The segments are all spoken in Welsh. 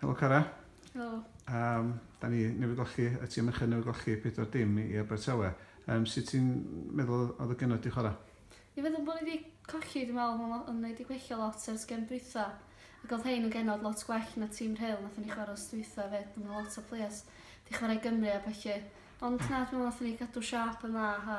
Helo Cara. Helo. Um, da ni newydd golli, y tîm ychydig newydd golli pedwar dim i Abertawe. Um, sut ti'n meddwl oedd y gynnod di chwarae? Ni feddwl bod ni wedi colli, dwi'n meddwl, mae'n yn wedi gwella lot ar sgem dwytha. Ac oedd hein yn genod lot gwell na tîm rheil nath ni chwarae os dwytha fe, dwi'n meddwl lot o players di chwarae Gymru a felly. Ond na, dwi'n meddwl nath ni gadw siap yn dda a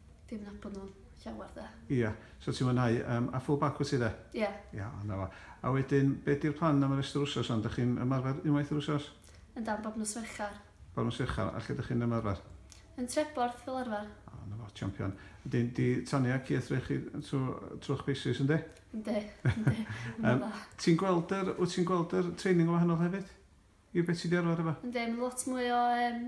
Fi'm yn nabod nhw llawer de. Ia, so ti'n mwynhau yym a full bag wyt ti de? Ia. Ia, o 'na fo. A wedyn be 'di'r plan am y rest o'r wsos wan? Dych chi'n ymarfer unwaith yr wsos? Yndan, bob nos Fercher. Bob nos Fercher, a lle dych chi'n ymarfer? Yn Treborth fel arfer. O 'na fo, champion. Wedyn 'di Tania ci wrthrych chi trw trw'ch paces yndi? Yndi, yndi. Ma'n dda. Ti'n gweld yr wyt ti'n gweld yr training yn wahanol hefyd? I be ti 'di arfer efo? Yndi, ma'n lot mwy o yym